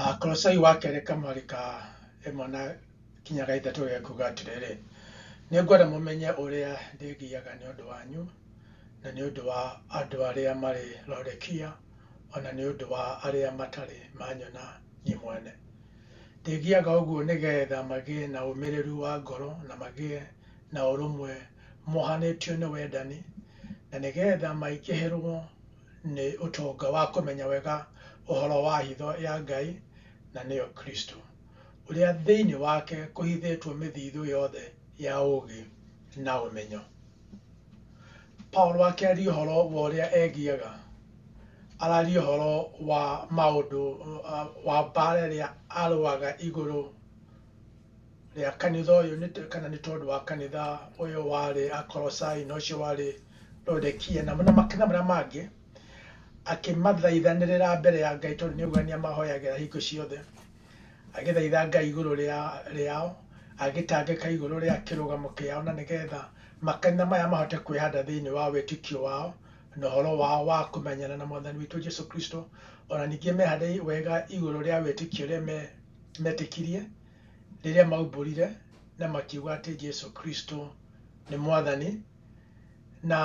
Ah, Kolosai wa kerĩ kamweri ka ĩmwe na kinya ga ithatũ gekuga atĩrĩrĩ, nĩngwenda mũmenye ũrĩa ndĩgiaga nĩ ũndũ wanyu, na nĩ ũndũ wa andũ arĩa marĩ Laodikia, o na nĩ ũndũ wa arĩa matarĩ manyona niĩ mwene. Ndĩgiaga ũguo nĩgeetha magĩe na ũmĩrĩru wa ngoro na magĩe na ũrũmwe mohanĩtio nĩ wendani, na nĩgeetha maingĩhĩrwo nĩ ũtonga wa kũmenya wega ũhoro wa hitho ya Ngai, na nĩyo Kristo, ũrĩa thĩinĩ wake kũhithĩtwo mĩthithũ yothe ya ũũgĩ na ũmenyo. Paulo akĩaria ũhoro wa ũrĩa egiaga, araria ũhoro wa maũndũ wa mbaara ĩrĩa arũaga igũrũ rĩa kanitha ũyũ nĩ tũ- kana nĩ tondũ wa kanitha ũyũ warĩ akorosai na ũcio warĩ rodekia na na makanitha marĩa mangĩ akĩmathaithanĩrĩra mbere ya ngai tondũ nĩauga nĩ amahoyagĩra hingo ciothe agĩthaitha ngai igũrũ rĩa- rĩao agĩtangĩka igũrũ rĩa kĩrũgamo kĩao na nĩgetha makanitha maya mahote kwĩhanda thĩinĩ wa wĩtĩkio wao na ũhoro wao wa kũmenyana na mwathani witũ jesu kristo ona ningĩ mehande wega igũrũ rĩa wĩtĩkio ũrĩa me- metĩkirie Rĩrĩa maumbũrire na makiuga atĩ Jesu Kristo nĩ mwathani, na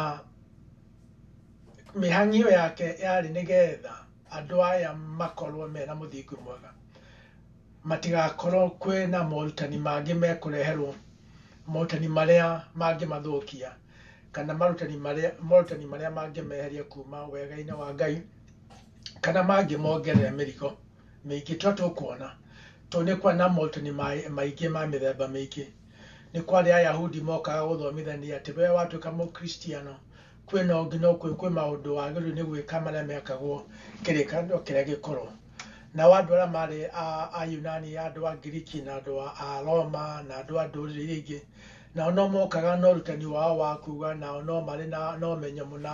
mĩhang'io yake yarĩ nĩgetha andũ aya makorwo mena mũthingi mwega, matigakorwo kwĩna morutani mangĩ mekũreherwo, morutani marĩa mangĩmathũkia, kana marutani marĩa morutani marĩa mangĩmeheria kuma wega-inĩ wa Ngai, kana mangĩmongerera mĩrigo. mĩingĩ tũrĩa tũkuona, tondũ nĩ kwarĩ na morutani maingĩ ma mĩthemba mĩingĩ. Nĩ kwarĩ Ayahudi mokaga gũthomithania atĩ we watuĩka Mũkristiano, kwĩ no nginya ũkũrũ, kwĩ maũndũ wagĩrĩirwo nĩ gwĩka marĩa mekagwo kĩrĩkanĩro kĩrĩa gĩkũrũ. Nao andũ arĩa marĩ Ayunani, andũ a Ngiriki na andũ a Roma na andũ a ndũrĩrĩ iria ingĩ, nao no mokaga na ũrutani wao wa kuga nao no marĩ na ũmenyo mũna.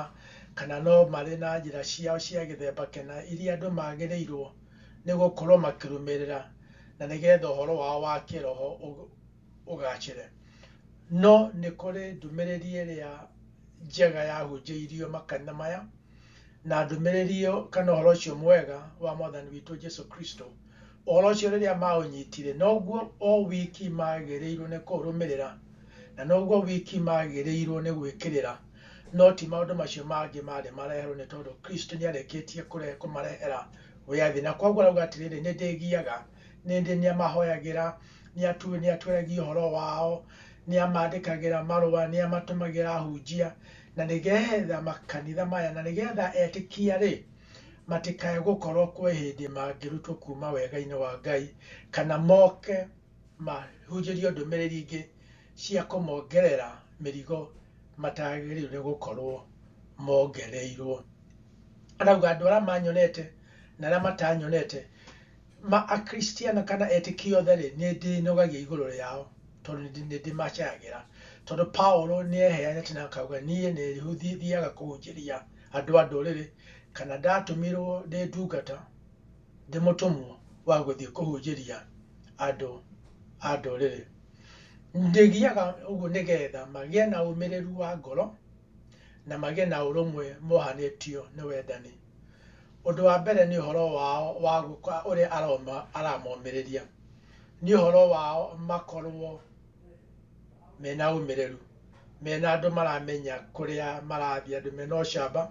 kana no marĩ na njĩra ciao cia gĩthemba kĩna iria andũ magĩrĩirũo nĩ gũkorũo makĩrũmĩrĩra na nĩgetha ũhoro wao wa kĩĩroho ũgaacĩre. No nĩ kũrĩ ndũmĩrĩri ĩrĩa njega yahunjĩirio makanitha maya, na ndũmĩrĩri ĩyo kana ũhoro ũcio mwega wa Mwathani witũ Jesu Kristo. Ũhoro ũcio rĩrĩa maũnyitire, noguo o wiki magĩrĩirũo nĩ kũũrũmĩrĩra, na noguo wiki magĩrĩirũo nĩ gwĩkĩrĩra. no ti maũndũ macio mangĩ marĩ mareherwo nĩ tondũ Kristo nĩ arĩkĩtie kũre- kũmarehera wĩathi na kwoguo arauga atĩrĩrĩ nĩ ndĩgiaga nĩ ndĩ nĩ amahoyagĩra nĩ atu- nĩ atwĩragia ũhoro wao nĩ amandĩkagĩra marũa nĩ amatũmagĩra ahunjia na nĩgetha makanitha maya na nĩgetha etĩkia rĩ matikae gũkorwo kwĩ hĩndĩ mangĩrutwo kuma wega-inĩ wa Ngai kana moke mahunjĩrio ndũmĩrĩri ingĩ cia kũmongerera mĩrigo matagĩrĩirwo nĩ gũkorwo mongereirwo. Arauga andũ arĩa manyonete na arĩa matanyonete, ma akristiano kana etĩkia othe rĩ, nĩ ndĩnogagia igũrũ rĩao tondũ nĩ ndĩ- nĩ ndĩmacayagĩra. Tondũ Paũlũ nĩ eheanĩte na akauga niĩ nĩ thiaga kũhunjĩria andũ a ndũrĩrĩ kana ndatũmirwo ndĩ ndungata ndĩ mũtũmwo wa gũthiĩ kũhunjĩria andũ a ndũrĩrĩ. Ndĩgiaga ũguo nĩgetha magĩe na ũmĩrĩru wa ngoro na magĩe na ũrũmwe mohanĩtio nĩ wendani. Ũndũ wa mbere nĩ ũhoro wao wa gũka ũrĩa aramomĩrĩria, nĩ ũhoro wao makorwo mena ũmĩrĩru, mena andũ maramenya kũrĩa marathiĩ, andũ mena ũcamba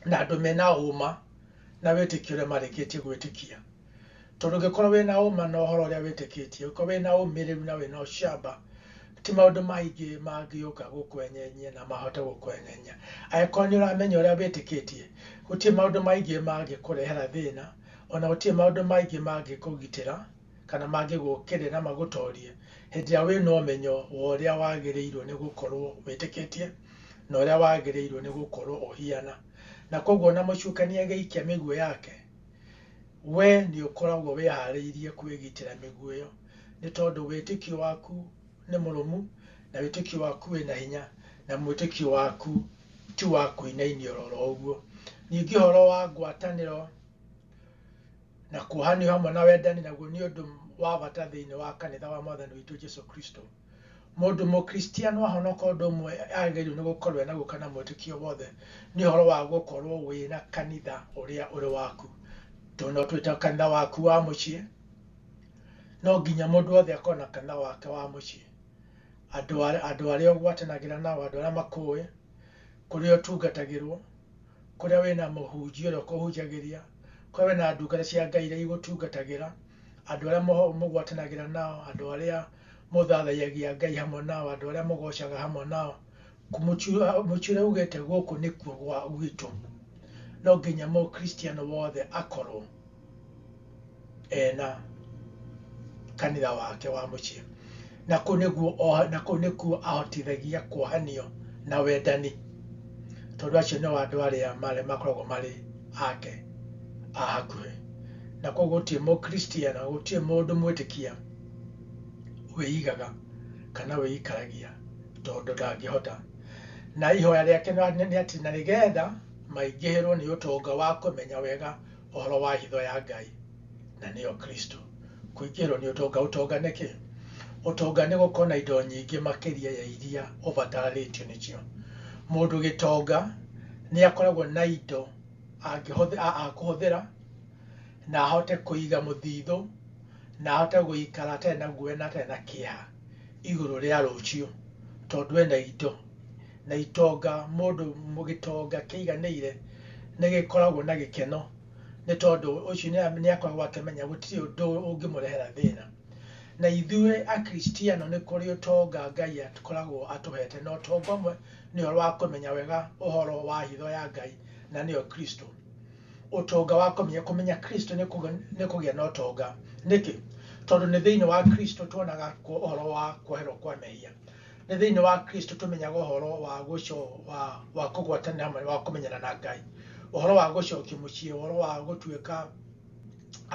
na andũ mena ũma. na wĩtĩkio ũrĩa marĩkĩtie gwĩtĩkia. Tondũ ũngĩkorwo wĩna ũma na ũhoro ũrĩa wĩtĩkĩtie, ũngĩkorwo wĩna ũmĩrĩru na wĩna ũcamba, ti maũndũ maingĩ mangĩũka gũkwenyenyia na mahote gũkwenyenyia. Angĩkorwo nĩ ũramenya ũrĩa wĩtĩkĩtie, gũtirĩ maũndũ maingĩ mangĩkũrehera thĩna, ona gũtirĩ maũndũ maingĩ mangĩkũgitĩra, kana mangĩgũkĩrĩra na magũtorie, hĩndĩ ĩrĩa wĩna ũmenyo wa ũrĩa wagĩrĩirwo nĩ gũkorwo wĩtĩkĩtie, na ũrĩa wagĩrĩirwo nĩ gũkorwo ũhiana. na koguo ona mũcukani agĩikia mĩguĩ yake, we nĩ ũkoragwo wĩharĩirie kwĩgitĩra mĩguĩ ĩyo, nĩ tondũ wĩtĩkio waku nĩ mũrũmu, na wĩtĩkio waku wĩna hinya, na mwĩtĩkio waku ti wa kũinainia oro ũguo. Ningĩ ũhoro wa ngwatanĩro na kuohanio hamwe na wendani naguo nĩ ũndũ wa bata thĩinĩ wa kanitha wa Mwathani witũ Jesu Kristo. Mũndũ mũkristiano ahonoka ũndũ ũmwe agĩrĩirwo nĩ gũkorwo enaguo kana mwĩtĩkio wothe nĩ ũhoro wa gũkorwo wĩna kanitha ũrĩa ũrĩ waku. Tondũ no twĩte kanitha waku wa mũciĩ, no nginya mũndũ wothe akorwo na kanitha wake wa mũciĩ. Andũ arĩa ũgwatanagĩra nao, andũ arĩa makũĩ, kũrĩa ũtungatagĩrwo. kũrĩa wĩna mũhunjia ũrĩa ũkũhunjagĩria kũrĩa wĩna ndungata cia ngai iria igũtungatagĩra andũ arĩa mũho- mũgwatanagĩra nao andũ arĩa mũthathaiyagia ngai hamwe nao andũ arĩa mũgocaga hamwe nao mũtiũrĩa ugĩte gũkũ nĩkuo gwa gwitũ no nginya mũkristiano wothe akorwo ena kanitha wake wa mũciĩ na kũu nĩguo oha- na kũu nĩkuo ahotithagia kuohanio na wendani tondũ acio nĩo andũ arĩa marĩa makoragwo marĩ ake a hakuhĩ na koguo gũtirĩ mũkristiana gũtirĩ mũndũ mwĩtĩkia wĩigaga kana wĩikaragia tondũ ndangĩhota na ihoya rĩake nĩ nĩ atĩ na nĩgetha maingĩhĩrwo nĩ ũtonga wa kũmenya wega ũhoro wa hitho ya Ngai na nĩyo Kristo. Kũingĩhĩrwo nĩ ũtonga, ũtonga nĩ kĩ? Ũtonga nĩ gũkorwo na indo nyingĩ makĩria ya iria ũbatarĩtio nĩcio. Mũndũ gĩtonga nĩ akoragwo na indo akũhũthĩra na ahote kũiga mũthithũ na ahote gũikara atarĩ na guoya na atarĩ na kĩeha igũrũ rĩa rũciũ tondũ ena indo. na itonga mũndũ gĩtonga kĩiganĩire nĩ gĩkoragwo na gĩkeno nĩ tondũ ũcio nĩ akoragwo akĩmenya gũtirĩ ũndũ ũngĩmũrehera thĩna. Na ithuĩ Akristiano nĩ kũrĩ ũtonga Ngai akoragwo atũhete, na ũtonga ũmwe nĩ ũhoro wa kũmenya wega ũhoro wa hitho ya Ngai na nĩyo Kristo. Ũtonga wa kũmenya, kũmenya Kristo nĩ kũgĩa na ũtonga. Nĩkĩ? Tondũ nĩ thĩinĩ wa Kristo tuonaga ũhoro wa kwoherwo kwa mehia. Nĩ thĩinĩ wa Kristo tũmenyaga ũhoro wa gũco wa wa kũgwatanĩra hamwe wa kũmenyana na Ngai, ũhoro wa gũcokio mũciĩ, ũhoro wa gũtuĩka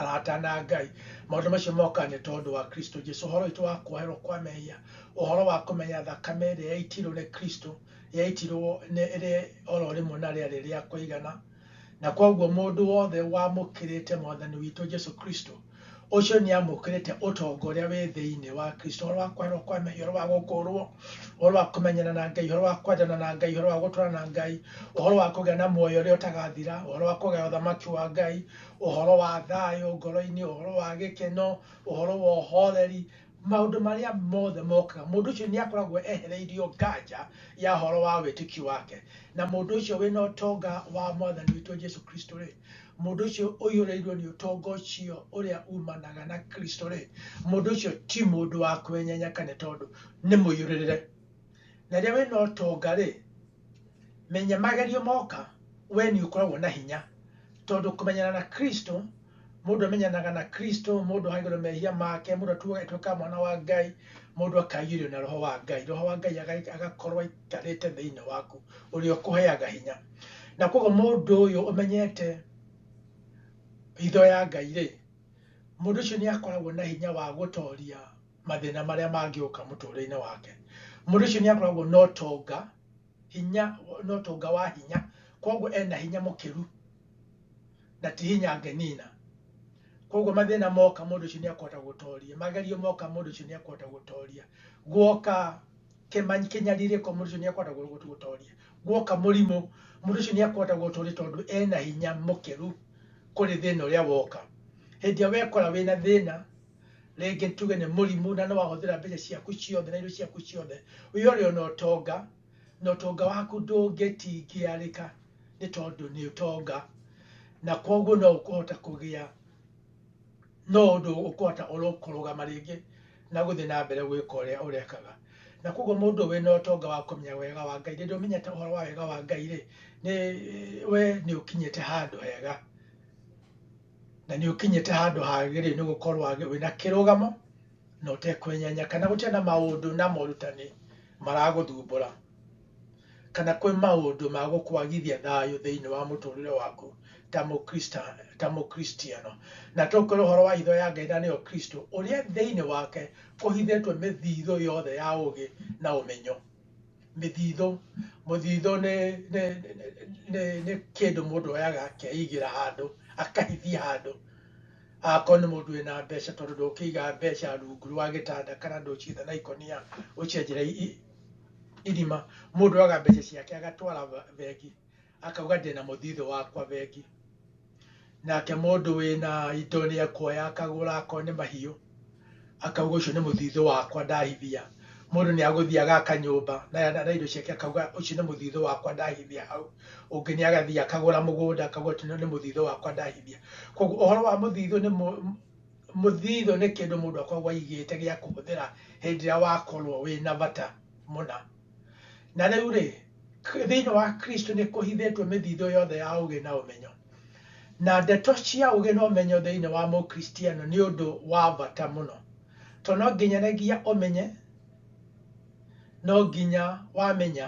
arata na Ngai. Maũndũ macio moka nĩ tondũ wa Kristo Jesu, ũhoro witũ wa kuoherwo kwa mehia, ũhoro wa kũmenya thakame ĩrĩa yaitirwo nĩ Kristo, yaitirwo nĩ ĩrĩ oro rĩmwe na rĩarĩ rĩa kũigana. Na kwoguo mũndũ wothe wamũkĩrĩte Mwathani witũ Jesu Kristo, ũcio nĩamũkĩrĩte ũtonga ũrĩa wĩ thĩinĩ wa Kristo, ũhoro wa kweherwo kwa mehia, ũhoro wa gũkũũrwo, ũhoro wa kũmenyana na Ngai, ũhoro wa kwendana na Ngai, ũhoro wa gũtũũra na Ngai, ũhoro wa kũgĩa na muoyo ũrĩa ũtagathira, ũhoro wa kũgaya ũthamaki wa Ngai, ũhoro wa thayũ ngoro-inĩ, ũhoro wa gĩkeno, ũhoro wa ũhooreri, maũndũ marĩa mothe mokaga mũndũ ũcio nĩ akoragwo ehereirio nganja ya horo wa wĩtĩkio wake na mũndũ ũcio wĩna ũtonga wa mwathani witũ jesu kristo rĩ mũndũ ũcio ũiyũrĩirwo nĩ ũtonga ũcio ũrĩa umanaga na kristo rĩ mũndũ ũcio ti mũndũ wa kwenyenya kana tondũ nĩ mũiyũrĩrĩre na rĩrĩa wĩna ũtonga rĩ menya magerio moka we nĩ ũkoragwo na hinya tondũ kũmenyana na kristo mũndũ amenyanaga na kristo mũndũ ahagĩrwo mehia make mũndũ atuaga atuĩka mwana wa ngai mũndũ akaiyũrio na roho wa ngai roho wa ngai aga- agakorwo aikarĩte thĩinĩ waku ũrĩa ũkũheaga hinya na koguo mũndũ ũyũ ũmenyete hitho ya ngai rĩ mũndũ ũcio nĩ akoragwo na hinya wa gũtoria mathĩna marĩa mangĩũka mũtũrĩre-inĩ wake mũndũ ũcio nĩ akoragwo na ũtonga hinya na ũtonga wa hinya koguo ena hinya mũkĩru na ti hinya angenina koguo mathĩna moka mũndũ ũcio nĩ akũhota gũtoria magerio moka mũndũ ũcio nĩ akũhota gũtoria guoka kĩma- kĩnyarirĩko mũndũ ũcio nĩ akũhota gũ- gũ- gũtoria guoka mũrimũ mũndũ ũcio nĩ akũhota gũtoria tondũ ena hinya mũkĩru kũrĩ thĩna ũrĩa woka hĩndĩ ĩrĩa wekora wĩna thĩna rĩngĩ tuge nĩ mũrimũ na nĩ wahũthĩra mbeca ciaku ciothe na irio ciaku ciothe, wĩ ore ona ũtonga, na ũtonga waku ndũngĩtingĩarĩka nĩ tondũ nĩ ũtonga, na koguo no ũkũhota kũgĩa no ũndũ ũkũhota kũrũgama rĩngĩ na gũthiĩ na mbere gwĩka ũrĩa ũrekaga. Na koguo mũndũ wĩ na ũtonga wa kũmenya wega wa Ngai, rĩrĩa ũmenyete ũhoro wa wega wa Ngai-rĩ, nĩ we nĩ ũkinyĩte handũ hega. na nĩ ũkinyĩte handũ hagĩrĩire nĩ gũkorwo wĩna kĩrũgamo na ũtekwenyenya kana gũtirĩ na maũndũ na morutani maragũthumbũra kana kwĩ maũndũ ma gũkwagithia thayũ thĩinĩ wa mũtũrĩre waku ta mũkrista- ta mũkristiano na tũkwĩra ũhoro wa hitho ya ngai na nĩyo kristo ũrĩa thĩinĩ wake kũhithĩtwo mĩthithũ yothe ya ũgĩ na ũmenyo mĩthitho, mũthitho nĩ nĩ nĩ nĩ kĩndũ mũndũ oyaga akeigĩra handũ akahithia handũ akorwo nĩ mũndũ wĩna mbeca tondũ ndũkĩiga mbeca rungu rwa gĩtanda kana ndũciga na ikũnia ũcienjera irima mũndũ oyaga mbeca ciake agatwara bengi. Akauga ndĩna mũthithũ wakwa bengi. Nake mũndũ wĩna indo nĩ ekuoya akagũra akorwo nĩ mahiũ. Akauga ũcio nĩ mũthithũ wakwa ndahithia. Mũndũ nĩ agũthiĩ agaka nyũmba na indo ciake akauga ũcio nĩ mũthithũ wakwa ndahithia hau. Ũngĩ nĩ agathiĩ akagũra mũgũnda akauga ũcio nĩ mũthithũ wakwa ndahithia. Koguo ũhoro wa mũthithũ nĩ mũthithũ nĩ kĩndũ mũndũ akoragwo aigĩte gĩa kũhũthĩra hĩndĩ ĩrĩa wakorwo wĩna bata mũna. na rĩu rĩ thĩinĩ wa kristo nĩ kũhithĩtwo mĩthithũ yothe ya ũgĩ na ũmenyo na ndeto cia ũgĩ na ũmenyo thĩinĩ wa mũkristiano nĩ ũndũ wa bata mũno tondũ no nginyanagia ũmenye no nginya wamenya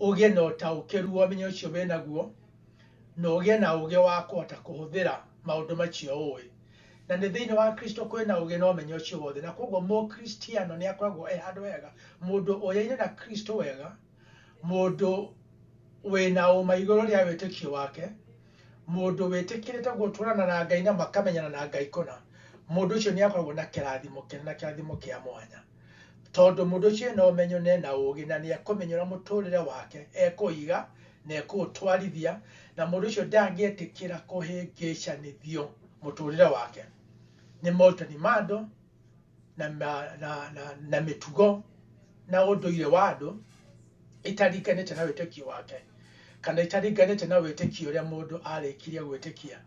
ũgĩe na ũtaũkĩru wa ũmenyo ũcio wĩnaguo na ũgĩe na ũgĩ wa kũhota kũhũthĩra maũndũ macio ũĩ Na nĩ thĩinĩ wa Kristo kũrĩ na ũũgĩ na ũmenyo ũcio wothe, na kwoguo Mũkristiano nĩ akoragwo e handũ hega, mũndũ ũyaine na Kristo wega, mũndũ wĩ na ũũma igũrũ rĩa wĩtĩkio wake, mũndũ wĩtĩkĩrĩte gũtũũrana na Ngai na makamenyana na Ngai kũna, mũndũ ũcio nĩ akoragwo na kĩrathimo kĩnene na kĩrathimo kĩa mwanya. Tondũ mũndũ ũcio ena ũmenyo na ena ũũgĩ, na nĩ ekũmenyera mũtũũrĩre wake, ekũũiga na ekũũtwarithia, na mũndũ ũcio ndangĩetĩkĩra kũhĩngĩcanithio mũtũũrĩre wake nĩ morutani ma andũ na, na, na, na, na mĩtugo na ũndũire wa andũ itaringanĩte na wĩtĩkio wake kana itaringanĩte na wĩtĩkio ũrĩa mũndũ arĩkirie gwĩtĩkia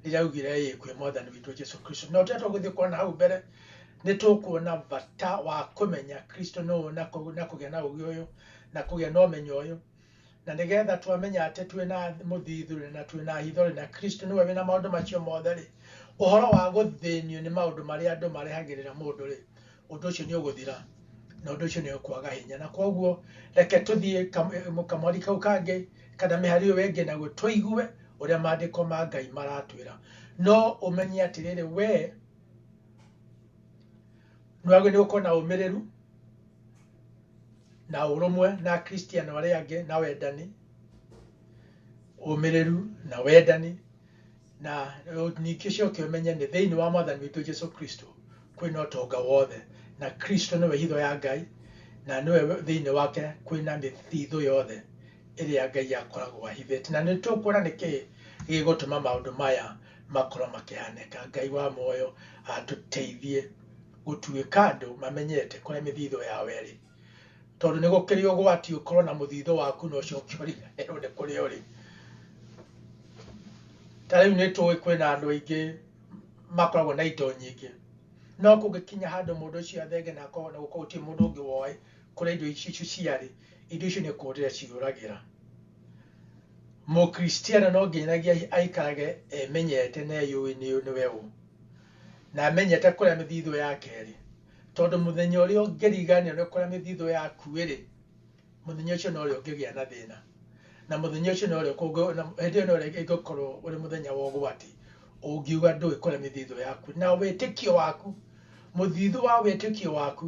rĩrĩa augire ĩĩ kwĩ mwathani witũ Jesu Kristo. No tũrĩa tũgũthiĩ kuona hau mbere Nĩ tũkuona bata wa kũmenya Kristo nũũ na kũgĩa na ũũgĩ ũyũ na kũgĩa na ũmenyo ũyũ. Na nĩgetha twamenya atĩ twĩ na mũthithũ-rĩ na twĩ na hitho-rĩ na Kristo nĩwe wĩ na maũndũ macio mothe-rĩ, ũhoro wa gũthĩnio nĩ maũndũ marĩa andũ marehagĩrĩra mũndũ-rĩ, ũndũ ũcio nĩ ũgũthira na ũndũ ũcio nĩ ũkwaga hinya. Na kwoguo reke tũthiĩ kamweri kau kangĩ kana mĩhari ĩyo ĩngĩ naguo tũigue ũrĩa maandĩko ma Ngai maratwĩra. No ũmenye atĩrĩrĩ, wee... muoyo waku nĩgũkorwo na ũmĩrĩru na ũrũmwe na akristiano arĩa angĩ na wendani ũmĩrĩru na wendani na ningĩ ũcoke ũmenye nĩ thĩinĩ wa mwathani witũ jesu kristo kwĩna ũtonga wothe na kristo nĩwe hitho ya ngai na nĩwe thĩinĩ wake kwĩna mĩthithũ yothe ĩrĩa ngai akoragwo ahithĩte na nĩ tũkuona nĩkĩ gĩgũtũma maũndũ maya makorwo makĩhanĩka ngai wa muoyo atũteithie gũtuĩka andũ mamenyete kũrĩa mĩthithũ yao ĩrĩ tondũ nĩ gũkĩrĩ ũgwati ũkorwo na mũthithũ waku na ũcio ũngĩ ũriganĩrwo nĩ kũrĩa ũrĩ ta rĩu nĩ tũĩ kwĩna andũ aingĩ makoragwo na indo nyingĩ no kũngĩkinya handũ mũndũ ũcio athenge na akorwo na gũkorwo gũtirĩ mũndũ ũngĩ woĩ kũrĩa indo icio ciarĩ indo icio nĩ kũũrĩra ciũragĩra Mũkristiano no nginyanagia aikarage emenyete na eyũĩ nĩ nĩwe ũ, na amenyete kũrĩa mĩthithũ yake ĩrĩ, tondũ mũthenya ũrĩa ũngĩriganĩrwo nĩ kũrĩa mĩthithũ yaku ĩrĩ, mũthenya ũcio no rĩo ũngĩgĩa na thĩna, na mũthenya ũcio no rĩo kũngĩ, na hĩndĩ ĩyo no rĩo ĩngĩkorwo ũrĩ mũthenya wa ũgwati, ũngiuga ndũĩ kũrĩa mĩthithũ yaku, na wĩtĩkio waku, mũthithũ wa wĩtĩkio waku,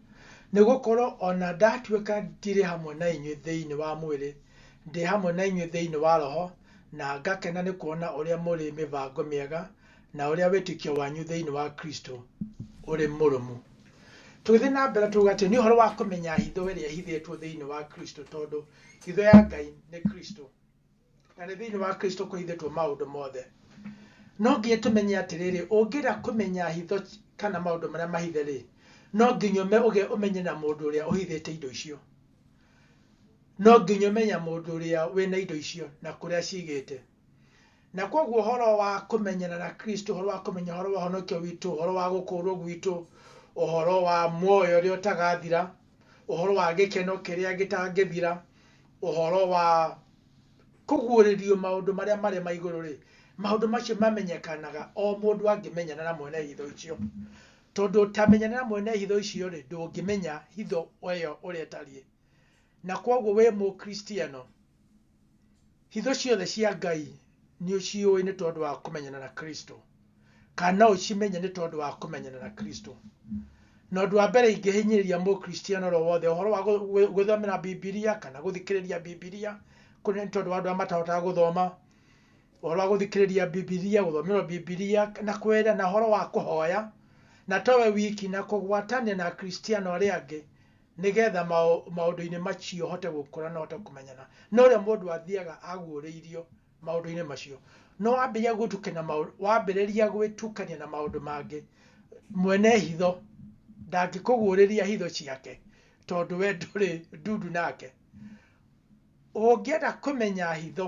Nĩ gũkorwo o na ndatuĩka ndirĩ hamwe na inyuĩ thĩinĩ wa mwĩrĩ, ndĩ hamwe na inyuĩ thĩinĩ wa roho, na ngakena nĩ kuona ũrĩa mũrĩ mĩbango mĩega, na ũrĩa wĩtĩkio wanyu thĩinĩ wa Kristo ũrĩ mũrũmu. Tũgĩthiĩ na mbere tuuga atĩ nĩ ũhoro wa kũmenya hitho ĩrĩa ĩhithĩtwo thĩinĩ wa Kristo, tondũ hitho ya Ngai nĩ Kristo. na nĩ thĩinĩ wa kristo kũhithĩtwo maũndũ mothe no nginya tũmenye atĩrĩrĩ ũngĩra kũmenya hitho ci- kana maũndũ marĩa mahithe rĩ no nginya ũme- ũge- ũmenye na mũndũ ũrĩa ũhithĩte indo icio no nginya ũmenya mũndũ ũrĩa wĩna indo icio na kũrĩa cigĩte na kwoguo ũhoro wa kũmenyana na kristo ũhoro wa kũmenya ũhoro wa ũhonokio witũ ũhoro wa gũkũũrwo gwitũ ũhoro wa muoyo ũrĩa ũtagathira ũhoro wa gĩkeno kĩrĩa gĩtangĩthira, ũhoro wa kũguũrĩrio maũndũ marĩa marĩ ma igũrũ rĩ, maũndũ macio mamenyekanaga o mũndũ angĩmenyana na mwene hitho icio. Tondũ ũtamenyana na mwene hitho icio rĩ, ndũngĩmenya hitho ĩyo ũrĩa ĩtariĩ. Na kwoguo wĩ Mũkristiano, Hitho ciothe cia Ngai nĩ ũciũĩ nĩ tondũ wa kũmenyana na Kristo, kana no ũcimenye nĩ tondũ wa kũmenyana na Kristo. Na ũndũ wa mbere ingĩhinyĩrĩria mũkristiano oro wothe ũhoro wa gũ- gwĩ- gwĩthomera Bibilia kana gũthikĩrĩria Bibilia, kũrĩ nĩ tondũ wa andũ arĩa matahotaga gũthoma, ũhoro wa gũthikĩrĩria Bibilia, gũthomerwo Bibilia na kwĩra na ũhoro wa kũhoya, na to we wiki na kũgwatania na akristiano arĩa angĩ nĩgetha maũndũ-inĩ macio ũhote gũkũra na ũhote kũmenyana. No rĩrĩa mũndũ athiaga aguũrĩirio maũndũ-inĩ macio, no wambĩrĩria gwĩtukania na maũndũ, wambĩrĩria gwĩtukania na maũndũ mangĩ, mwene hitho ndangĩkũguũrĩria hitho ciake tondũ we ndũrĩ ndundu nake. Ũngĩenda kũmenya hitho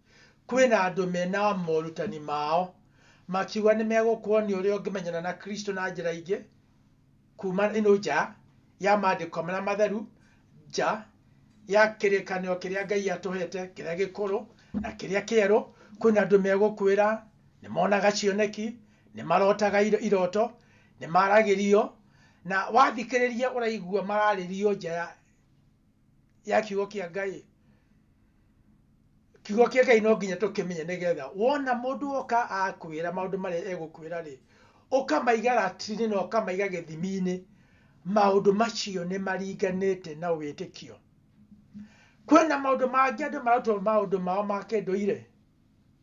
Kwĩna andũ mena morutani mao makiuga nĩmegũkuonia ũrĩa ũngĩmenyana na Kristo na njĩra ingĩ kuma ĩno nja ya maandĩko marĩa matheru, nja ya kĩrĩkanĩro kĩrĩa Ngai atũhete kĩrĩa gĩkũrũ na kĩrĩa kĩerũ. Kwĩna andũ megũkwĩra nĩmonaga cioneki, nĩmarotaga iroto, nĩmaragĩrio, na wathikĩrĩria ũraigua mararĩrio nja ya... ya kiugo kĩa ngai kiugo kĩa ngai no nginya tũkĩmenye nĩgetha wona mũndũ oka akwĩra maũndũ marĩa egũkwĩra rĩ ũkamaiga ratiri-inĩ na ũkamaiga gĩthimi-inĩ maũndũ macio nĩ maringanĩte na wĩtĩkio kwĩna maũndũ mangĩ andũ maratwo maũndũ mao ma kĩndũire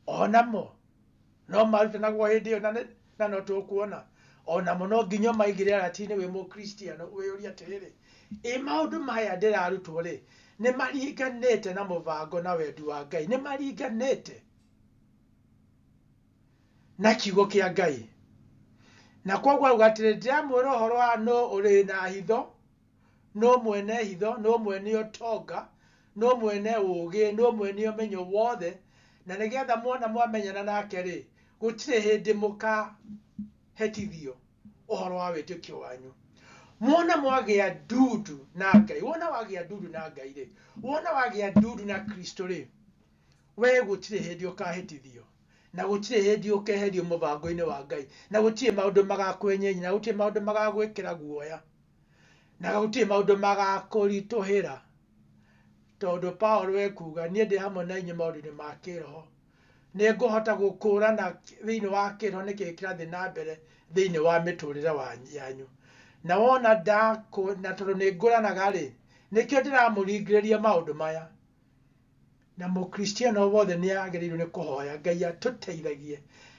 o namo no marutanagwo hĩndĩ ĩyo na nĩ- na no tũkuona o namo no nginya maigĩre aratinĩ wĩ mũkristiano wĩyũria atĩrĩrĩ ĩ maũndũ maya ndĩrarutwo rĩ nĩ maringanĩte na mũbango na wendi wa ngai nĩ maringanĩte na kiugo kĩa ngai na kwoguo auga atĩrĩ ndĩramwĩra ũhoro wa nũ ũrĩ na hitho no mwene hitho no mwene ũtonga no mwene ũũgĩ no mwene ũmenyo wothe na nĩgetha mwona mwamenyana nake rĩ gũtirĩ hĩndĩ mũkahĩtithio ũhoro wa wĩtĩkio wanyu mwona mwagĩa ndundu na ngai wona wagĩa ndundu na ngai rĩ wona wagĩa ndundu na kristo rĩ we gũtirĩ hĩndĩ ũkahĩtithio na gũtirĩ hĩndĩ ũkeherio mũbango-inĩ wa ngai na gũtirĩ maũndũ magakwenyenyi na gũtirĩ maũndũ magagwĩkĩra guoya na gũtirĩ maũndũ magakũritũhĩra, tondũ Paũlũ ekuga, niĩ ndĩ hamwe na inyuĩ maũndũ-inĩ ma kĩĩroho. Nĩ ngũhota gũkũũrana thĩinĩ wa kĩĩroho nĩkĩ kĩrathiĩ na mbere thĩinĩ wa mĩtũũrĩre yanyu. Na wona na tondũ nĩ ngũranaga-rĩ, nĩkĩo ndĩramũringĩrĩria maũndũ maya. Na Mũkristiano o wothe nĩ agĩrĩirũo nĩ kũhoya Ngai atũteithagie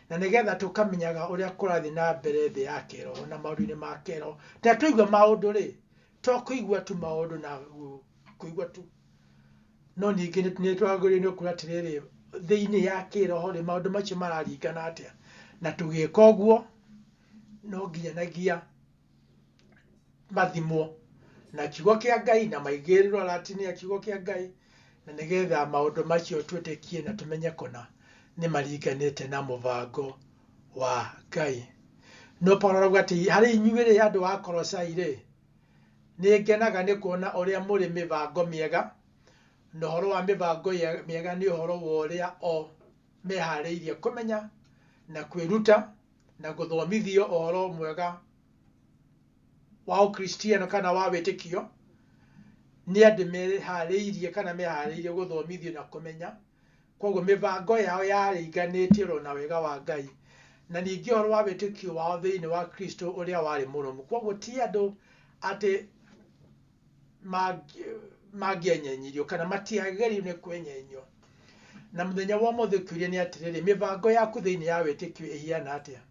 na nĩgetha tũkamenyaga ũrĩa kũrathiĩ na mbere thĩ ya kĩĩroho na maũndũ-inĩ ma kĩĩroho. Rĩrĩa twaigua maũndũ-rĩ, to kũigua tu maũndũ na kũigua tu, no ningĩ nĩ twagĩrĩirũo nĩ kuuga atĩrĩrĩ, thĩinĩ ya kĩĩroho-rĩ, maũndũ macio mararingana atĩa. Na tũgĩka ũguo, no nginyanagia mathimwo na kiugo kĩa ngai na maigĩrĩrwo ratini ya kiugo kĩa ngai na nĩgetha maũndũ macio twĩtĩkie na tũmenye kũna nĩ maringanĩte na mũbango wa ngai no paulo arauga atĩ harĩ inyuĩ-rĩ andũ a korosai-rĩ nĩ ngenaga nĩ kuona ũrĩa mũrĩ mĩbango mĩega na ũhoro wa mĩbango ye- mĩega nĩ ũhoro wa ũrĩa o meharĩirie kũmenya na kwĩruta na gũthomithio ũhoro mwega wa ũkristiano kana wa wĩtĩkio nĩ andũ meharĩirie kana meharĩirie gũthomithio na kũmenya koguo mĩbango yao yaringanĩtie oro na wega wa ngai na ningĩ ũhoro wa wĩtĩkio wao thĩinĩ wa kristo ũrĩa warĩ mũrũmu koguo ti andũ atĩ mangĩ- mangĩenyenyirio kana matiagĩrĩirwo nĩ kwenyenyio na mũthenya wa ũmũthĩ kĩũria nĩ atĩrĩrĩ mĩbango yaku thĩinĩ ya wĩtĩkio ĩhiana atĩa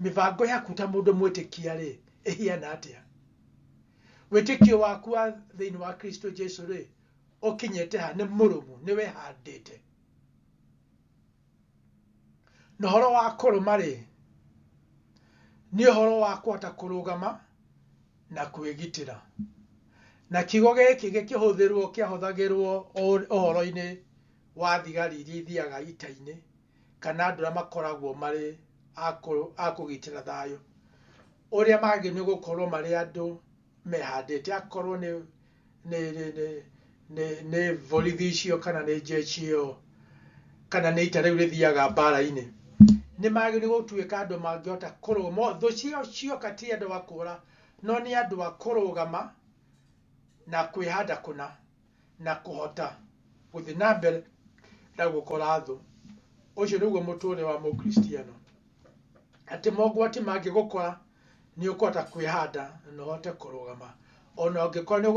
mĩbango yaku ta mũndũ mwĩtĩkia rĩ ĩhiana atĩa wĩtĩkio waku wa thĩinĩ wa kristo jesu rĩ ũkinyĩte ha nĩ mũrũmu nĩ wehandĩte Na ũhoro wa kũrũma-rĩ, nĩ ũhoro wa kũhota kũrũgama na kwĩgitĩra. Na kiugo gĩkĩ gĩkĩhũthĩrwo kĩahũthagĩrwo ũhoro-inĩ wa thigari iria ithiaga ita-inĩ kana andũ arĩa makoragwo marĩ a kũgitĩra thayũ. Ũrĩa magĩrĩirwo nĩ gũkorwo marĩ andũ mehandĩte akorwo nĩ nĩ borithi icio kana nĩ njeci ĩyo kana nĩ ita rĩu rĩthiaga mbara-inĩ, nĩ magĩrĩirwo gũtuĩka andũ mangĩhota kũrũgama, thũ ciao cioka ti andũ a kũra no nĩ andũ a kũrũgama na kwĩhanda kũna na kũhota gũthiĩ na mbere na gũkora thũ. Ũcio nĩguo mũtũrĩre wa mũkristiano, atĩ mogwati mangĩgũkora nĩ ũkũhota kwĩhanda na ũhote kũrũgama. Ona ũngĩkorwo nĩ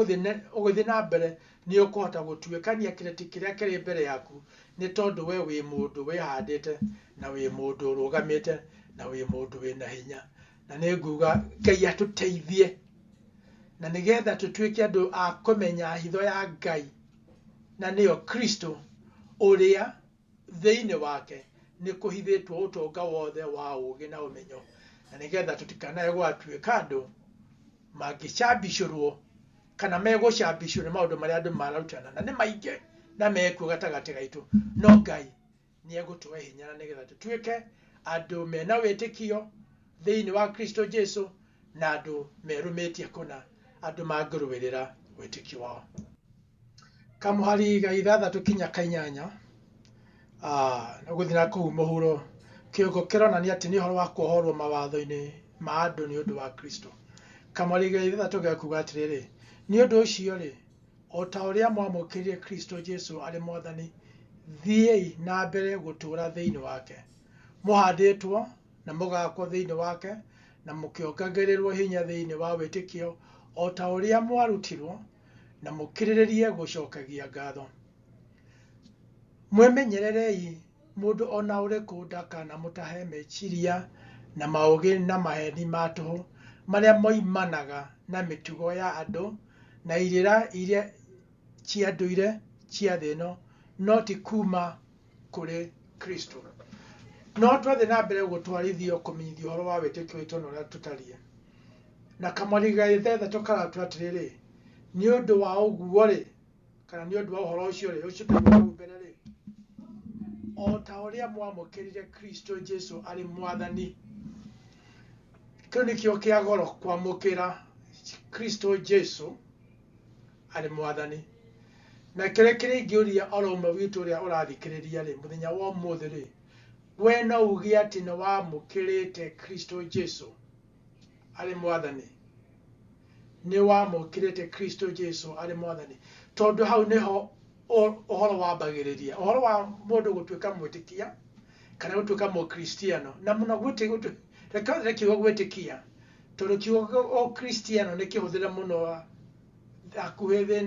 ũgũthiĩ na mbere, nĩ ũkũhota gũtuĩkania kĩrĩti kĩrĩa kĩrĩ mbere yaku, nĩ tondũ we wĩ mũndũ wĩhandĩte, na wĩ mũndũ ũrũgamĩte, na wĩ mũndũ wĩna hinya. Na nĩ nguga Ngai atũteithie, na nĩ getha tũtuĩke andũ a kũmenya hitho ya Ngai, na nĩyo Kristo ũrĩa Thĩinĩ wake nĩ kũhithĩtwo ũtonga wothe wa ũũgĩ na ũmenyo, na nĩ getha tũtikanae gwatuĩka andũ mangĩcambicũrwo kana megũcambicwo nĩ maũndũ marĩa andũ mararutana, na nĩ maingĩ na mekuo gatagatĩ gaitũ, no Ngai nĩ egũtũhe hinya na nĩ getha tũtuĩke andũ mena wĩtĩkio thĩinĩ wa Kristo Jesu na andũ merũmĩtie kũna, andũ mangĩrũĩrĩra wĩtĩkio wao. Kamũhari ga ithathatũ kinya ka inyanya, nĩ gũthiĩ na kũu mũhuro, kĩongo kĩronania atĩ nĩ ũhoro wa kwohorwo mawatho-inĩ ma andũ nĩ ũndũ wa Kristo. Kamũhari ga ithathatũ gekuga atĩrĩrĩ, nĩ ũndũ ũcio-rĩ, o ta ũrĩa mwamũkĩrire Kristo Jesu arĩ Mwathani, thiĩi na mbere gũtũũra thĩinĩ wake, mũhandĩtwo na mũgakwo thĩinĩ wake, na mũkĩongagĩrĩrwo hinya thĩinĩ wa wĩtĩkio, o ta ũrĩa mwarutirwo, na mũkĩrĩrĩrie gũcokagia ngatho. Mwĩmenyererei mũndũ o na ũrĩkũ ndakanamũtahe meciria na maũgĩ na maheni ma tũhũ marĩa moimanaga na mĩtugo ya andũ na irĩra iria cia ndũire cia thĩ ĩno, no ti kuuma kũrĩ kristo no twathiĩ na mbere gũtwarithio kũmenyithia ũhoro wa wĩtĩkio witũ na ũrĩa tũtariĩ na kamwari gaithetha tũkaratwa atĩrĩrĩ nĩ ũndũ wa ũguo rĩ kana nĩ ũndũ wa ũhoro ũcio rĩ ũcio tũgũkau mbere rĩ o ta ũrĩa mwamũkĩrire kristo jesu arĩ mwathani kĩu nĩkĩo kĩa goro kwamũkĩra kristo jesu arĩ mwathani. Na kĩrĩa kĩrĩa ingĩũria oro ũmwe witũ ũrĩa ũrathikĩrĩria rĩ, mũthenya wa ũmũthĩ rĩ, we no uge atĩ nĩ wamũkĩrĩte Kristo Jesu arĩ mwathani? Nĩ wamũkĩrĩte Kristo Jesu arĩ mwathani? Tondũ hau nĩho ũhoro wambagĩrĩria. Ũhoro wa mũndũ gũtuĩka mwĩtĩkia kana gũtuĩka mũkristiano na mũno reke kiugo gwĩtĩkia tondũ kiugo ũkristiano nĩ kĩhũthĩre mũno hakuhĩ thĩ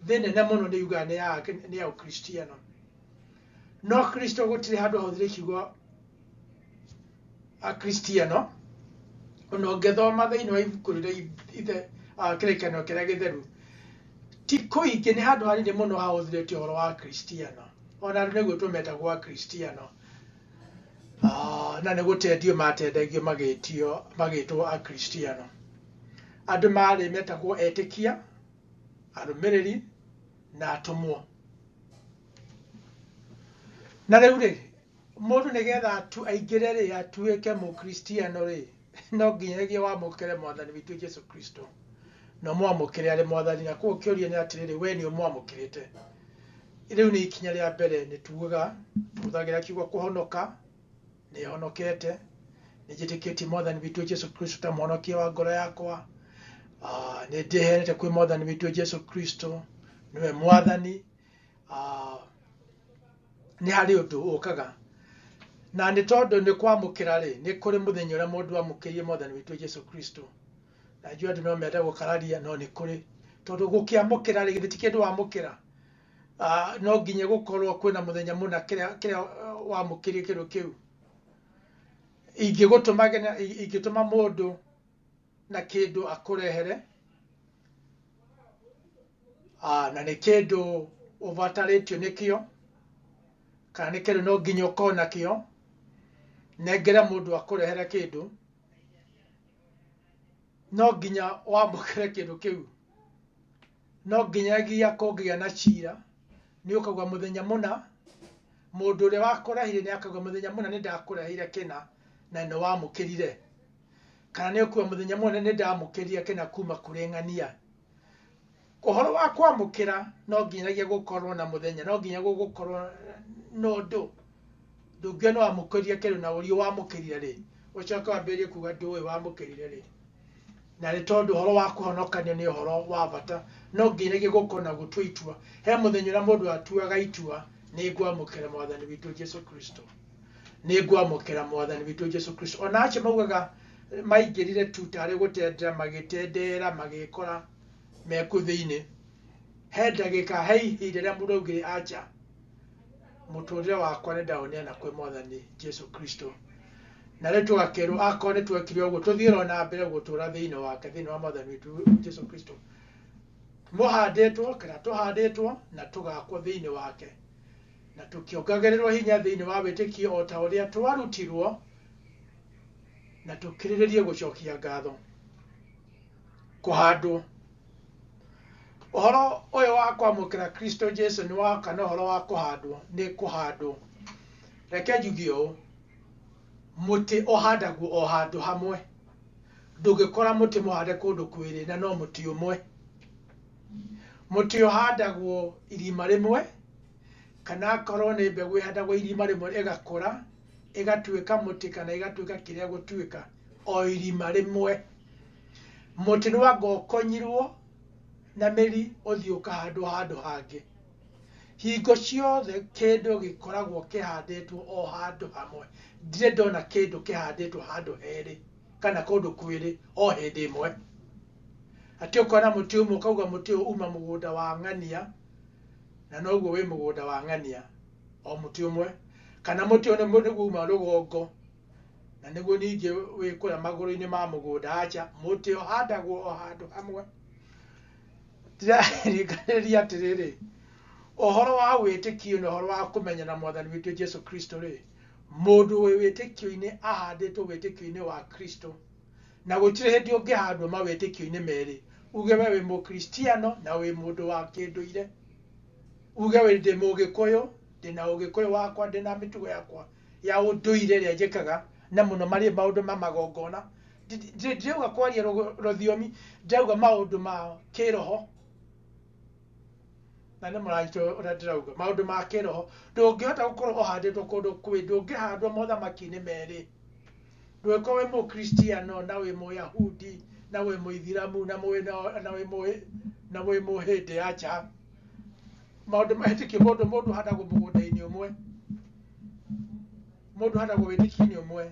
thĩ nene mũno nĩ yugaga nĩ ya nĩ ya ũkristiano no kristo gũtirĩ handũ hahũthĩre kiugo akristiano ona ũngĩthoma thĩinĩ wa ibuku rĩrĩa ithe ah, kĩrĩkanĩro kĩrĩa gĩtheru ti kũingĩ nĩ handũ hanini mũno hahũthĩrĩtio ũhoro wa kristiano ona andũ nĩguo tũmetagwo akristiano Ah, na nĩ gũtendio matendagio magĩtio magĩtwo akristiano Andũ maarĩ metagwo etĩkia, arũmĩrĩri, na atũmwo. Na rĩu rĩ, mũndũ nĩgetha atu aingĩre rĩ, atuĩke mũkristiano rĩ, no nginyagia wamũkĩre mwathani witũ Jesu Kristo, na ũmwamũkĩre arĩ mwathani. Na koguo kĩũria nĩ atĩrĩrĩ, we nĩ ũmwamũkĩrĩte? Rĩu nĩ ikinya rĩa mbere nĩ tugaga, tũhũthagĩra kiugo kũhonoka, nĩhonokete nĩnjĩtĩkĩtie mwathani witũ jesu kristo ta mũhonokia wa ngoro yakwa Ah, nĩndĩheanĩte kwĩ mwathani witũ jesu kristo nĩwe mwathani Ah, nĩ harĩ ũndũ ũkaga na nĩ tondũ nĩ kwamũkĩra rĩ nĩ kũrĩ mũthenya ũrĩa mũndũ amũkĩrie mwathani witũ jesu kristo na njua andũ no mende gũkararia no nĩ kũrĩ tondũ gũkĩamũkĩra rĩ githĩ ti kĩndũ wamũkĩra Ah, no nginya gũkorwo kwĩna mũthenya mũna kĩrĩa kĩrĩa wamũkĩrie kĩndũ kĩu ingĩgũtũma nginya- i- ingĩtũma mũndũ na kĩndũ akũrehere Ah, na nĩ kĩndũ ũbatarĩtio nĩkĩo kana nĩ kĩndũ no nginya ũkorwo nakĩo nengera mũndũ akũrehere kĩndũ no nginya wamũkĩre kĩndũ kĩu No nginyagia kũngĩgĩa na ciira, nĩũkaũga mũthenya mũna, mũndũ ũrĩa wakũrahire nĩakauga mũthenya mũna nĩndakũrahire kĩna na nĩwamũkĩrire, kana nĩũkuga mũthenya mũna nĩndamũkĩrire kĩna kuma kũrĩ ng'ania. Ũhoro wa kwamũkĩra no nginyagia gũkorwo na mũthenya, no nginya gũgũkorwo na ũndũ. Ndũngĩũĩ nĩ wamũkĩrire kĩndũ na ũrie wamũkĩrire rĩ, ũcoke wambĩrĩrie kuga ndũĩ wamũkĩrire rĩ. Na nĩ tondũ ũhoro wa kũhonokanio nĩ ũhoro wa bata, no nginyagia gũkũ na gũtua itua. He mũthenya ũrĩa mũndũ atuaga itua, nĩ ngwamũkĩra Mwathani witũ Jesu Kristo. Nĩ ngwamũkĩra Mwathani witũ Jesu Kristo. Ona acio maugaga maingĩrire tu tarĩ gũtendera, magĩtendeera, magĩkora me kũu thĩinĩ. He ndagĩka, he ihinda rĩrĩa mũndũ augire aca. mũtũrĩre wakwa nĩ ndaũneana kwĩ mwathani Jesu Kristo na rĩu tũgakerwo akorwo nĩ twekire ũguo tũthiĩ o na mbere gũtũra thĩinĩ wake thĩinĩ wa mwathani witũ Jesu Kristo mũhandĩtwo kana tũhandĩtwo na tũgakwo thĩinĩ wake na tũkĩongagĩrĩrwo hinya thĩinĩ wa wĩtĩkio o ta ũrĩa twarutirwo na tũkirĩrĩrie gũcokia ngatho kũhandwo ũhoro ũyũ wa kwamũkĩra kristo jesu nĩ wa kana ũhoro wa kũhandwo nĩ kũhandwo reke njuge ũũ mũtĩ ũhandagwo o handũ hamwe ndũngĩkora mũtĩ mũhande kũndũ kwĩrĩ na no mũtĩ ũmwe mũtĩ ũhandagwo irima rĩmwe kana akorwo nĩ mbegũ ĩhandagwo irima rĩmwe ĩgakũra ĩgatuĩka mũtĩ kana ĩgatuĩka kĩrĩa gũtuĩka o irima rĩmwe Mũtĩ nĩ wanga ũkonyirwo na mĩri ũthiĩ ũkahandwo handũ hangĩ. Hingo ciothe kĩndũ gĩkoragwo kĩhandĩtwo o handũ hamwe. Ndirĩ ndona kĩndũ kĩhandĩtwo handũ herĩ kana kũndũ kwĩrĩ o hĩndĩ ĩmwe. Atĩ ũkona mũtĩ ũmwe ũkauga mũtĩ ũyũ uma mũgũnda wa ng'ania na noguo wĩ mũgũnda wa ng'ania o mũtĩ ũmwe, kana mũtĩ ũyũ nĩguo uma rũgongo. na nĩguo ningĩ wĩkũra magũrũ-inĩ ma mũgũnda aca mũtĩ ũhandagwo o handũ hamwe ndĩrarĩkanĩria atĩrĩrĩ ũhoro wa wĩtĩkio na ũhoro wa kũmenya na mwathani witũ jesu kristo rĩ mũndũ wĩ wĩtĩkio-inĩ ahandĩtwo wĩtĩkio-inĩ wa kristo na gũtirĩ hĩndĩ ũngĩhandwo mawĩtĩkio-inĩ merĩ uge we wĩ mũkristiano na wĩ mũndũ wa kĩndũire uge wĩ ndĩ mũgĩkũyũ ndĩna ũgĩkũyũ wakwa ndĩna mĩtugo yakwa ya ũndũire ĩrĩa njĩkaga na mũno marĩ maũndũ ma magongona. Ndirauga kwaria rũthiomi, ndĩrauga maũndũ ma kĩroho, na nĩ mũranyita ũrĩa ndĩrauga, maũndũ ma kĩroho. Ndũngĩhota gũkorwo ũhandĩtwo kũndũ kwĩ, ndũngĩhandwo mothamaki-inĩ merĩ. Ndũngĩkorwo wĩ mũkristiano na wĩ mũyahudi, na wĩ mũithiramu, na wĩ mũhĩndĩ, aca. maũndũ mahĩtũkio mũndũ mũndũ handagwo mũgũnda-inĩ ũmwe mũndũ handagwo wĩtĩkio-inĩ ũmwe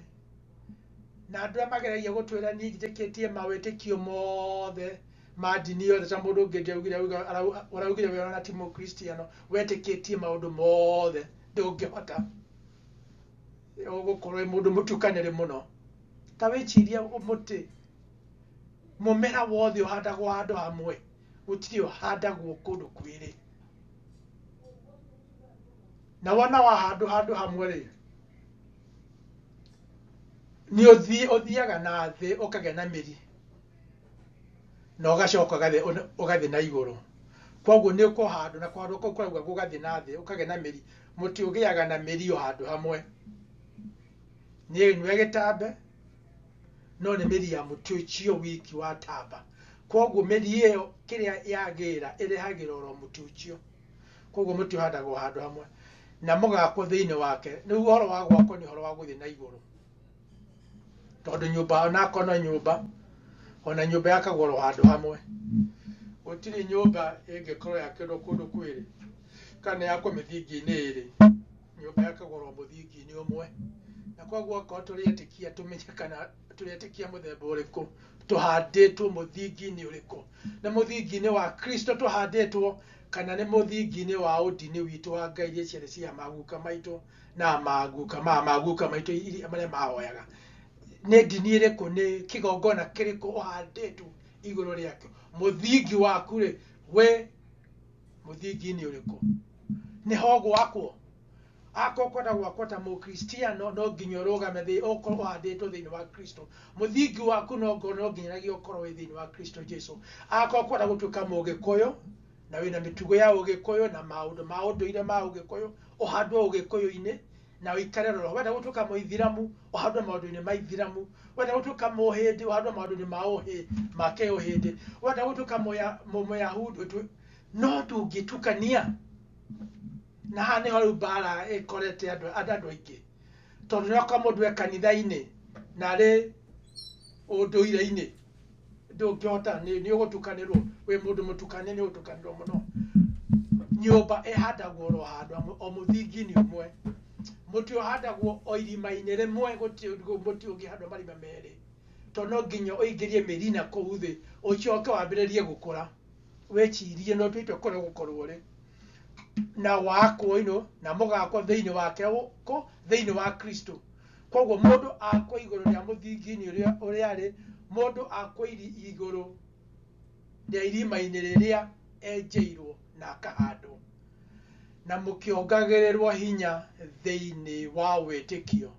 na andũ arĩa mageragia gũtwĩra niĩ njĩtĩkĩtie mawĩtĩkio mothe ma ndini yothe ta mũndũ ũngĩ ndĩaugire auga- arau- ũraugire we ona ti mũkristiano wetĩkĩtie maũndũ mothe ndũngĩhota gũkorwo wĩ mũndũ mũtukanĩrĩ mũno ta wĩcirie mũtĩ mũmera wothe ũhandagwo handũ hamwe gũtirĩ ũhandagwo kũndũ kwĩrĩ na wona wahandwo handũ hamwe rĩ nĩ ũthiĩ ũthiaga na thĩ ũkagĩa na mĩri na ũgacoka ũgathiĩ ũna- ũgathiĩ na igũrũ koguo nĩ ũkũhandwo na kũhandwo kũu kũrauga gũgathiĩ na thĩ ũkagĩa na mĩri mũtĩ ũgĩaga na mĩri o handũ hamwe nĩ ĩnyue gĩtambe no nĩ mĩri ya mũtĩ ũcio wiki watamba koguo mĩri ĩyo kĩrĩa yagĩra ĩrehagĩra oro mũtĩ ũcio koguo mũtĩ ũhandagwo handũ hamwe na mũgakwo thĩinĩ wake rĩu ũhoro wa gwakwo nĩ ũhoro wa gũthiĩ na igũrũ tondũ nyũmba onakwa no nyũmba ona nyũmba yakagwo oro handũ hamwe gũtirĩ nyũmba ĩngĩkorwo yakĩrwo kũndũ kwĩrĩ kana yakwo mĩthingi-inĩ ĩrĩ nyũmba yakagũrwo mũthingi-inĩ ũmwe na koguo okorwo tũrĩ etĩkia tũmenye kana tũrĩ etĩkia mũthemba ũrĩkũ tũhandĩtwo mũthingi-inĩ ũrĩkũ nĩ mũthingi-inĩ wa kristo tũhandĩtwo kana nĩ mũthingi-inĩ wa ũndini witũ wa ngai iria ciarĩ cia maguka maitũ na maguka ma maguka maitũ iria- marĩa mahoyaga nĩ ndini ĩrĩkũ nĩ kĩgongona kĩrĩkũ ũhandĩtwo igũrũ rĩakĩo mũthingi waku rĩ wĩ mũthingi nĩ ũrĩkũ nĩ ho gwakwo akorwo kwenda gwakwo ta mũkristiano no nginya ũrũgame thĩ ũkorwo ũhandĩtwo thĩinĩ wa kristo mũthingi waku no ngorwo no nginyanagia ũkorwo wĩ thĩinĩ wa kristo jesu akorwo kwenda gũtuĩka mũgĩkũyũ na wĩna mĩtugo ya ũgĩkũyũ na maũndũ ma ũndũire ma ũgĩkũyũ ũhandwo ũgĩkũyũ-inĩ na ũikare roro wenda gũtuĩka mũithiramu ũhandwo maũndũ-inĩ ma ithiramu wenda gũtuĩka mũhĩndĩ ũhandwo maũndũ-inĩ ma ũhĩ ma kĩũhĩndĩ wenda gũtuĩka mũya- mũ- mũyahudi ũtu- no tũngĩtukania na haha nĩho rĩu mbara ĩkorete andũ andũ andũ aingĩ tondũ nĩoka mũndũ e kanitha-inĩ na arĩ ũndũire-inĩ ndũngĩhota nĩ nĩ ũgũtukanĩrwo wĩ mũndũ mũtukanie nĩ ũgũtukanĩrwo mũno nyũmba ĩhandagwo oro handũ hamwe o mũthingi-inĩ ũmwe mũtĩ ũhandagwo o irima-inĩ rĩmwe gũtirĩ ũndũ- mũtĩ ũngĩhandwo marima merĩ tondũ no nginya ũingĩrie mĩri na kũu thĩ ũcoke wambĩrĩrie gũkũra wĩcirie no tũitũ kũrĩa ũgũkorwo rĩ na wakwo ino na mũgakwo thĩinĩ wake kũ thĩinĩ wa kristo koguo mũndũ akwa igũrũ rĩa mũthingi-inĩ ũrĩa ũrĩa rĩ mũndũ akwa iri- igũrũ rĩa irima-inĩ rĩrĩa enjeirwo na akahandwo na mũkĩongagĩrĩrwo hinya thĩinĩ wa wĩtĩkio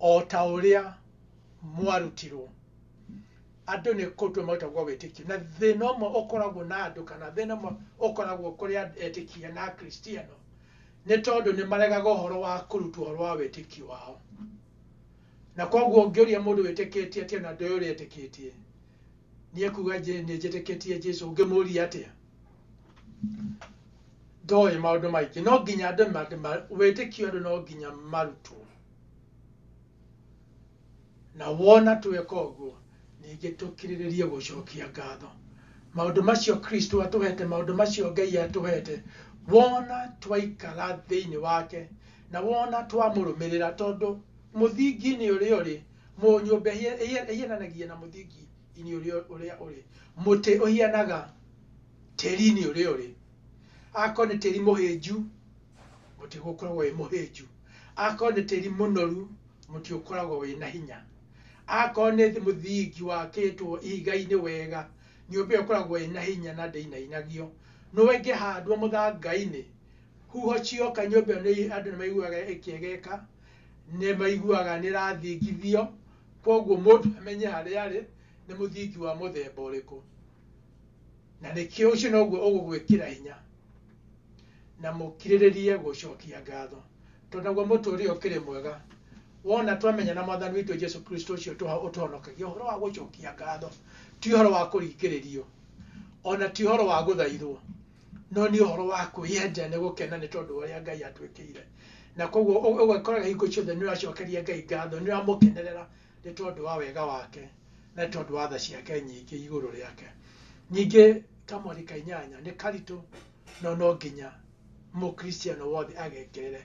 o ta ũrĩa mwarutirwo andũ nĩ kũtua marutagwo wĩtĩkio na thĩna ũmwe ũkoragwo na andũ kana thĩna ũmwe ũkoragwo kũrĩ and- etĩkia na akristiano nĩ tondũ nĩ maregaga ũhoro wa kũrutwo ũhoro wa wĩtĩkio wao na koguo ũngĩũria mũndũ wĩtĩkĩtie atĩa na ndoĩ ũrĩa etĩkĩtie nĩ ekuga nĩ njĩtĩkĩtie jesu ũngĩmũria atĩa ndoĩ maũndũ maingĩ no nginya andũ wĩtĩkio andũ no nginya marutwo Na wona tweka ũguo, ningĩ tũkirĩrĩrie gũcokia ngatho. Maũndũ macio Kristo atũhete, maũndũ macio Ngai atũhete, wona twaikara thĩinĩ wake, na wona twamũrũmĩrĩra, tondũ mũthingi-inĩ ũrĩa ũrĩ, mũ- nyũmba ĩhia- ĩhia- ĩhiananagia na mũthingi-inĩ ũrĩa ũrĩa ũrĩ, mũtĩ ũhianaga tĩri-inĩ ũrĩa ũrĩ. Akorwo nĩ tĩri mũhĩnju, mũtĩ gũkoragwo wĩ mũhĩnju akorwo nĩ tĩri mũnoru mũtĩ ũkoragwo wĩ na hinya akorwo nĩ thĩ- mũthingi wakĩtwo ihiga-inĩ wega nyũmba ĩyo ĩkoragwo ĩ na hinya na ndĩinainagio no ĩngĩhandwo mũthanga-inĩ huho cioka nyũmba ĩyo nĩ- andũ nĩ maiguaga ĩkĩegeka nĩ maiguaga nĩ ĩrathingithio koguo mũndũ amenye harĩa arĩ nĩ mũthingi wa mũthemba ũrĩkũ na nĩkĩo ũcio noguo ũgũgwĩkĩra hinya na mũkirĩrĩrie gũcokia ngatho tondũ naguo mũtũũrĩre ũkĩrĩ mwega wona twamenya na mwathani witũ jesu kristo ũcio tũha- ũtũhonokagia ũhoro wa gũcokia ngatho ti ũhoro wa kũringĩrĩrio ona ti ũhoro wa gũthaithwo no nĩ ũhoro wa kwĩyenda nĩ gũkena nĩ tondũ wa ũrĩa ngai atwĩkĩire na koguo ũ- ũgakora hingo ciothe nĩ ũracokeria ngai ngatho nĩ ũramũkenerera nĩ tondũ wa wega wake na nĩ tondũ wa tha ciake nyingĩ igũrũ rĩake nyingĩ kamweri ka inyanya nĩ karitũ no no nginya mũkristiano wothe agekerere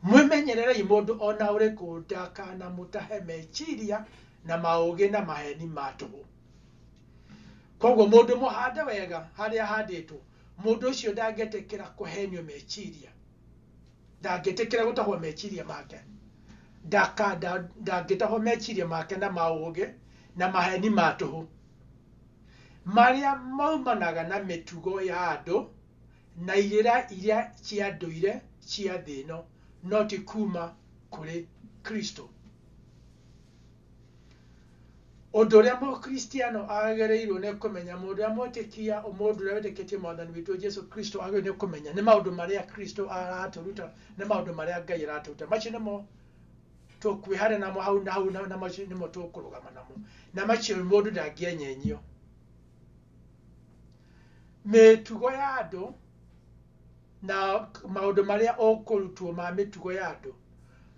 mwĩmenyererei mũndũ ona ũrĩkũ ndakanamũtahe meciria na maũgĩ na maheni ma tũhũ koguo mũndũ mũhande wega harĩa ahandĩtwo mũndũ ũcio ndangĩtĩkĩra kũhenio meciria Ndangĩtĩkĩra gũtahwo meciria make, ndaka, nda, ndangĩtahwo meciria make na maũũgĩ na maheni ma tũhũ marĩa maumanaga na mĩtugo ya andũ na irĩra iria cia ndũire cia thĩ ĩno, no ti kuuma kũrĩ Kristo. Ũndũ ũrĩa mũkristiano agĩrĩirwo nĩ kũmenya, mũndũ ũrĩa mwĩtĩkia, mũndũ ũrĩa wĩtĩkĩtie mwathani witũ Jesu Kristo agĩrĩirwo nĩ kũmenya nĩ maũndũ marĩa Kristo aratũruta, nĩ maũndũ marĩa Ngai aratũruta. Macio nĩmo tũkwĩhara namo hau na hau na macio nĩmo tũkũrũgama namo. Na macio mũndũ ndangĩenyenyio. Mĩtugo ya andũ na maũndũ marĩa ũkũrutwo ma mĩtugo ya andũ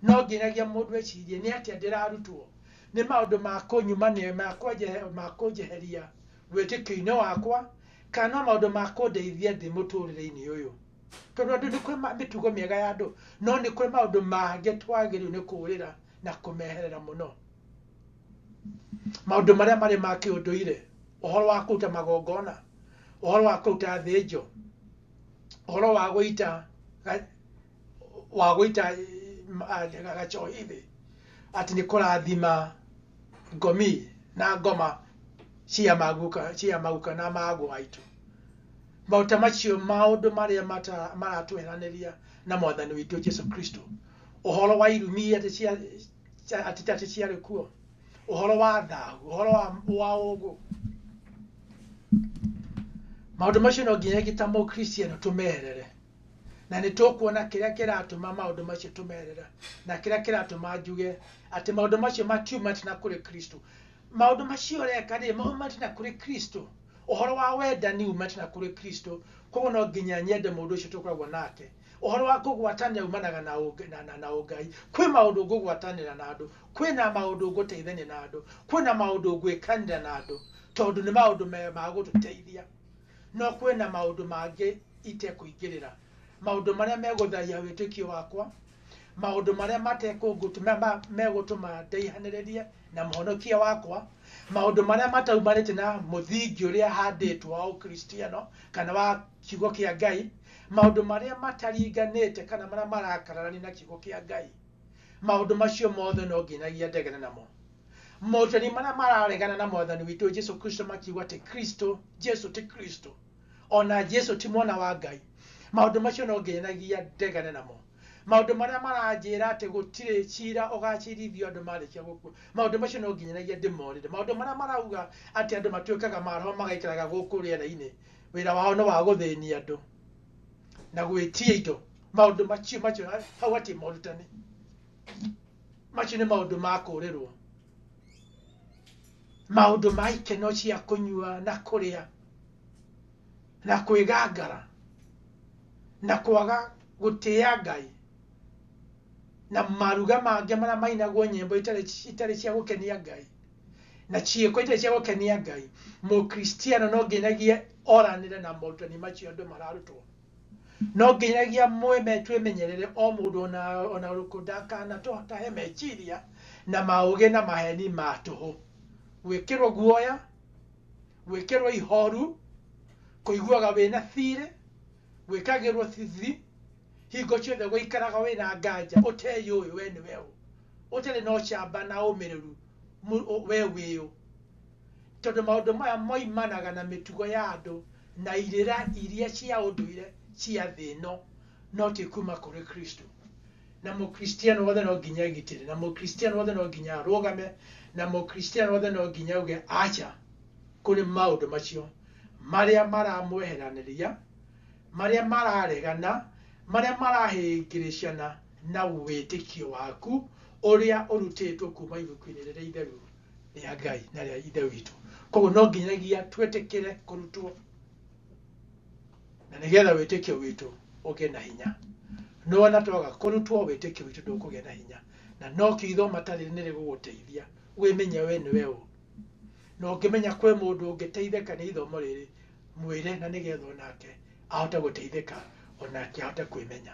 no nginyagia mũndũ ecirie nĩ atĩa ndĩrarutwo nĩ maũndũ ma kũnyuma nĩ ma kũnjehe- ma kũnjeheria wĩtĩkio-inĩ wakwa kana no maũndũ ma kũndeithia ndĩ mũtũrĩre-inĩ ũyũ tondũ andũ nĩ kwĩ ma- mĩtugo mĩega ya andũ no nĩ kwĩ maũndũ mangĩ twagĩrĩirwo nĩ kũũrĩra na kũmeherera mũno maũndũ marĩa marĩ ma kĩũndũire ũhoro wa kũruta magongona ũhoro wa kũruta thĩnjo ũhoro wa gũita ga- wa gũita mm, ah, ga- gacohi thĩ atĩ nĩ kũrathima ngomi na ngoma cia maguka cia maguka na mago aitũ maũta macio maũndũ marĩa mata- maratweheranĩria na mwathani witũ jesu kristo ũhoro wa irumi atĩ cia cia- atĩ atĩ ciarĩ kuo ũhoro wa thahu ũhoro wa, wa ũgũ maũndũ macio no nginya gita mũkristiano tũmerere na nĩ tũkuona kĩrĩa kĩratũma maũndũ macio tũmerera na kĩrĩa kĩratũma njuge atĩ maũndũ macio matiumate na kũrĩ kristo maũndũ macio ũreka rĩ maumate na kũrĩ kristo ũhoro wa wendani umate na kũrĩ kristo koguo no nginya nyende mũndũ ũcio tũkoragwo nake Ũhoro wa kũgwatanĩra umanaga na ũng, na, na, na ũngai. Kwĩ maũndũ ngũgwatanĩra na andũ. Kwĩ na maũndũ ngũteithania na andũ. Kwĩ na maũndũ ngwĩkanĩra na andũ, tondũ nĩ maũndũ me, ma gũtũteithia. No kwĩ na maũndũ mangĩ itekũingĩrĩra. Maũndũ marĩa megũthaahia wĩtĩkio wakwa, maũndũ marĩa matekũngũtu, me, ma, megũtũma ndaihanĩrĩrie na Mũhonokia wakwa, maũndũ marĩa mataumanĩte na mũthingi ũrĩa handĩtwo wa Ũkristiano, kana wa Kiugo kĩa Ngai, Maũndũ marĩa mataringanĩte kana marĩa marakararania na kiugo kĩa Ngai, maũndũ macio mothe no nginyagia ndegere namo. Moritani marĩa mararegana na mwathani witũ Jesu Kristo makiuga atĩ Kristo, Jesu ti Kristo, ona Jesu ti mwana wa Ngai, maũndũ macio no nginyagia ndegere namo. Maũndũ marĩa maranjĩra atĩ gũtirĩ cira ũgacirithio andũ marĩkia gũkua, maũndũ macio no nginyagia ndĩmorĩre. Maũndũ marĩa marauga atĩ andũ matuĩkaga maroho magaikaraga gũkũ rĩera-inĩ, wĩra wao nĩ wa gũthĩnia andũ na gwĩtia indo maũndũ macio macio hau hatirĩ morutani macio nĩ maũndũ ma kũũrĩrwo maũndũ ma ikeno cia kũnyua na kũrĩa na kwĩgangara na kwaga gũtĩa ngai na maruga mangĩ marĩa mainagwo nyĩmbo itarĩ itarĩ cia gũkenia ngai na ciĩko itarĩ cia gũkenia ngai mũkristiano no nginyagia oranĩre na morutani macio andũ mararutwo no nginyagia mwĩme twĩmenyerere o mũndũ ona ona ũrĩkũ ndakanatũtahe meciria na maũgĩ na maheni ma tũhũ gwĩkĩrwo guoya gwĩkĩrwo ihoru kũiguaga wĩna thirĩ gwĩkagĩrwo thithi hingo ciothe gũikaraga wĩna nganja ũteyũĩ we nĩ weũ ũtarĩ na ũcamba na ũmĩrĩru mu- ũ- we wĩyũ tondũ maũndũ maya moimanaga na mĩtugo ya andũ na irĩra iria cia ũndũire cia thĩ ĩno no ti kuma kũrĩ kristo na mũkristiano wothe no nginya egitĩre na mũkristiano wothe no nginya arũgame na mũkristiano wothe no nginya auge aca kũrĩ maũndũ macio marĩa maramweheranĩria marĩa mararegana marĩa marahĩngĩrĩcana na wĩtĩkio waku ũrĩa ũrutĩtwo kuma ibuku-inĩ rĩrĩa itheru rĩa ngai na rĩa ithe witũ koguo no nginyagia twĩtĩkĩre kũrutwo na nĩgetha wĩtĩkio witũ ũgĩe na hinya no ona twaga kũrutwo wĩtĩkio witũ ndũkũgĩa na hinya na no kiugo matarĩ nĩ rĩgũgũteithia wĩmenye we nĩ we ũ na ũngĩmenya kwĩ mũndũ ũngĩteithĩka nĩ ithomo rĩrĩ mwĩre na nĩgetha onake ahote gũteithĩka onake ahote kwĩmenya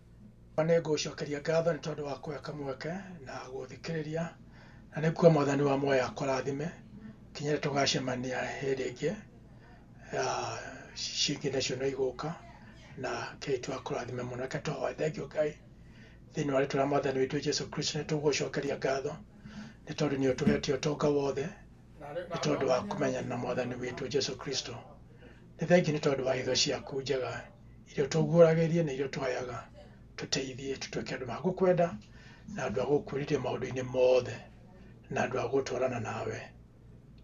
Baba, nĩ ngũgũcokeria ngatho nĩ tondũ wa kũheka mweke na gũthikĩrĩria na nĩ kuo mwathani wa muoyo akũrathime kinya rĩrĩa tũgacemania hĩndĩ ĩngĩ ah, cingĩ nacio no igũka na ngai tu akũrathime mũno reke tũhoe thengiũ ngai thĩinĩ wa rĩtwa rĩa mwathani witũ jesu kristo nĩ tũgũgũcokeria ngatho nĩ tondũ nĩ ũtũhetie ũtonga wothe nĩ tondũ wa kũmenyana na mwathani witũ jesu kristo nĩ thengiũ nĩ tondũ wa hitho ciaku njega iria ũtũguũragĩria na iria ũtũheaga tũteithie tũtuĩke andũ magũkwenda na andũ agũkwĩrĩria maũndũ-inĩ mothe na andũ agũtwarana nawe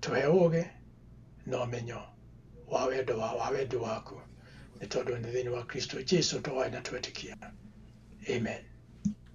tũhe ũgĩ na ũmenyo wa wendo wa, wa wendi waku nĩ tondũ nĩ thĩinĩ wa kristo jesu tũhoe na twetĩkia amen